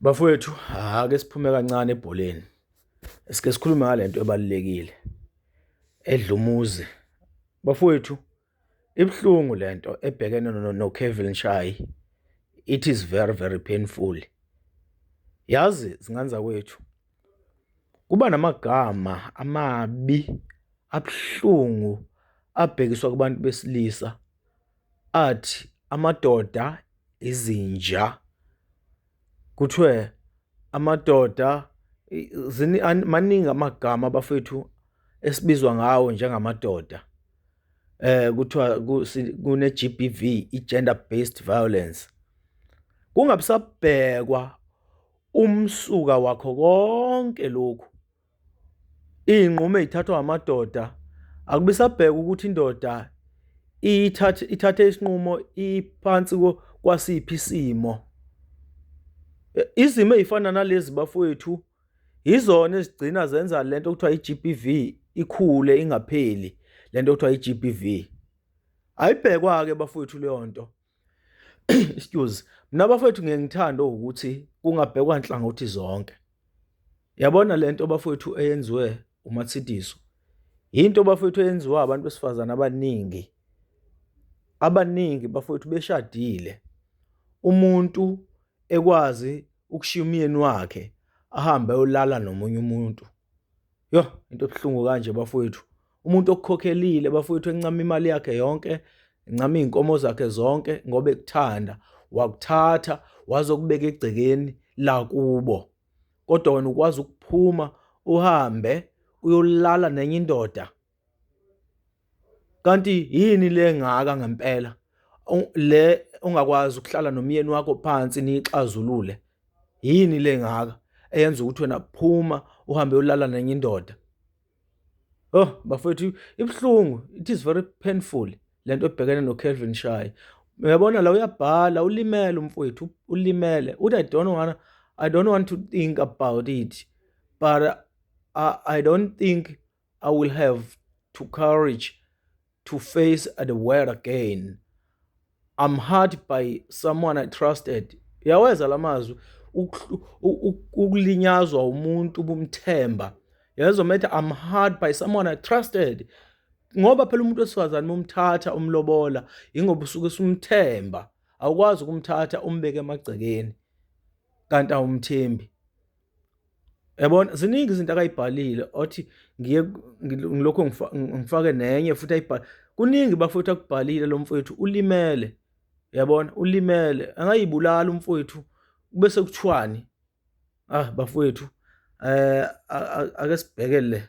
Bafowethu ake siphume kancane ebholeni. Sike sikhulume ngalento ebalulekile edlumuzi. Bafowethu ibuhlungu lento ebhekene no Kevin Shayi. It is very very painful. Yazi zingane zakwethu kuba namagama amabi abuhlungu abhekiswa kubantu besilisa. athi amadoda izinja kuthiwe amadoda maningi amagama bafethu esibizwa ngawo njengamadoda eh kuthiwa kune GBV i gender based violence kungabisabhekwa umsuka wakho konke lokhu Iy'nqumo ey'thathwa amadoda akubisabhekwa ukuthi indoda ithathe isinqumo iphansi kwasiphi isimo. Izimo ey'fana nalezi bafowethu yizona ezigcina zenza le nto okuthiwa i-G_B_V ikhule ingapheli le nto okuthiwa i-G_B_V. Ayibhekwa-ke bafowethu leyo nto. excuse mina bafethu ngeke ngithande ukuthi kungabhekwa nhlangothi zonke yabona lento bafethu eyenziwe umathidiso into bafethu eyenziwa abantu besifazana abaningi abaningi bafethu beshadile umuntu ekwazi ukushiya umyeni wakhe ahambe ayolala nomunye umuntu Yho into ebuhlungu kanje bafowethu. Umuntu okukhokhelile bafowethu encama imali yakhe yonke, encama izinkomo zakhe zonke ngoba ekuthanda, wakuthatha wazokubeka egcekeni lakubo. Kodwa wena ukwazi ukuphuma uhambe uyolala nenye indoda. Kanti yini le ngaka ngempela le ongakwazi ukuhlala nomyeni wakho phansi nixazulule yini le ngaka eyenza ukuthi wena phuma uhambe ulala nenye indoda oh bafethu ibuhlungu it is very painful lento ebhekene no Kelvin Shayi uyabona la uyabhala ulimele umfowethu ulimele uthi i don't want i don't want to think about it but i, I don't think I will have to courage to face the world again. I'm hurt by someone I trusted. Yaweza lamazwi ukulinyazwa umuntu ubumthemba. Yezwa methe I'm hurt by someone I trusted. Ngoba phela umuntu wesifazane umthatha umlobola ingoba usuke sumthemba. Awukwazi ukumthatha umbeke emagcekeni kanti awumthembi. Yabona ziningi izinto akayibhalile othi ngiye ngilokho ngifake nenye futhi ayibhale. Kuningi bafowethu akubhalile lo mfowethu ulimele. Yabona ulimele angayibulala umfowethu kube sekuthiwani? Ah bafowethu eh ake sibhekele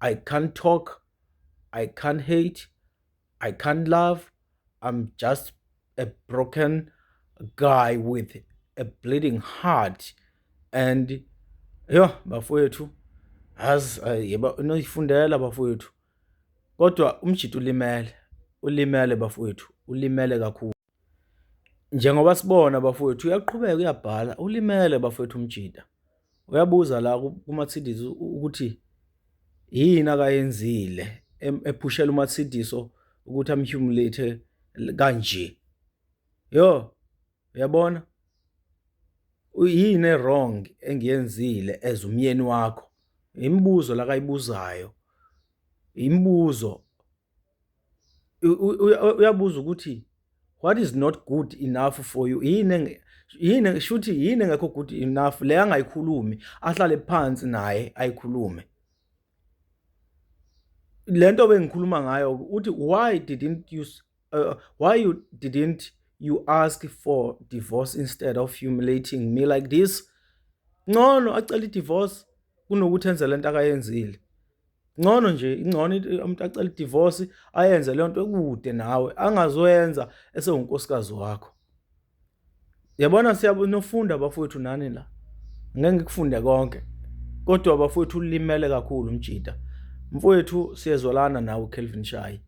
I can't talk, I can't hate, I can't love. I'm just a broken guy with a bleeding heart and yho bafowethu azi yeba unoyifundela bafowethu kodwa umjita ulimele ulimele bafowethu ulimele kakhulu. Njengoba sibona bafowethu uyaqhubeka uyabhala ulimele bafowethu umjita uyabuza la kuMarcedes ukuthi yini akayenzile ephushela uMarcedes ukuthi amhumulate kanje yo uyabona uyini wrong engiyenzile as umyeni wakho imibuzo lakayibuzayo imibuzo uyabuza ukuthi what is not good enough for you yini yini shuthi yini engekho good enough le angayikhulumi ahlale phansi naye ayikhulume lento bengikhuluma ngayo uthi why didn't you uh, why you didn't you ask for divorce instead of humiliating me like this ncono acela idivorce kunokuthi enze lento akayenzile ngcono nje ingcono umuntu acela idivorce ayenze leyo nto ekude nawe angazoyenza esewunkosikazi wakho yabona siyabenofunda abafowethu nani la ngeke ngikufunde konke kodwa abafowethu ulimele kakhulu umjita mfowethu siyezwalana nawe Kelvin Shayi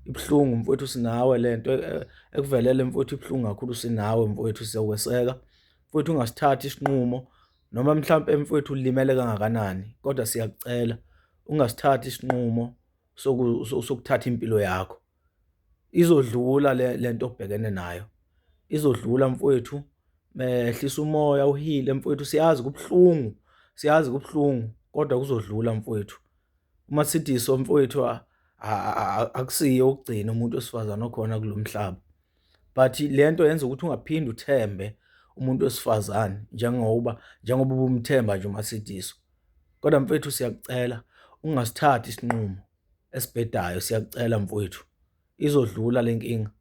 ibuhlungu mfowethu sinawe lento e, e, ekuvelele mfowethu ibuhlungu kakhulu sinawe mfowethu siyakweseka mfowethu ungasithathi isinqumo Noma mhlawumbe mfowethu ulimele kangakanani, kodwa siyakucela ungasithathi isinqumo sokuthatha impilo yakho. Izodlula le lento obhekene nayo. Izodlula mfowethu. Mehlisa umoya uhile mfowethu, siyazi kubuhlungu. Siyazi kubuhlungu kodwa kuzodlula mfowethu. Uma sithi so mfowethu akusiyo ukugcina umuntu wesifazane okhona kulomhlaba. but le nto yenza ukuthi ungaphinde uthembe umuntu wesifazane njengoba njengoba ubumthemba nje uma sidiswa kodwa mfethu siyakucela ungasithathi isinqumo esibhedayo siyakucela mfowethu izodlula le nkinga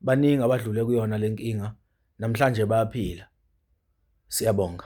baningi abadlule kuyona le nkinga namhlanje bayaphila siyabonga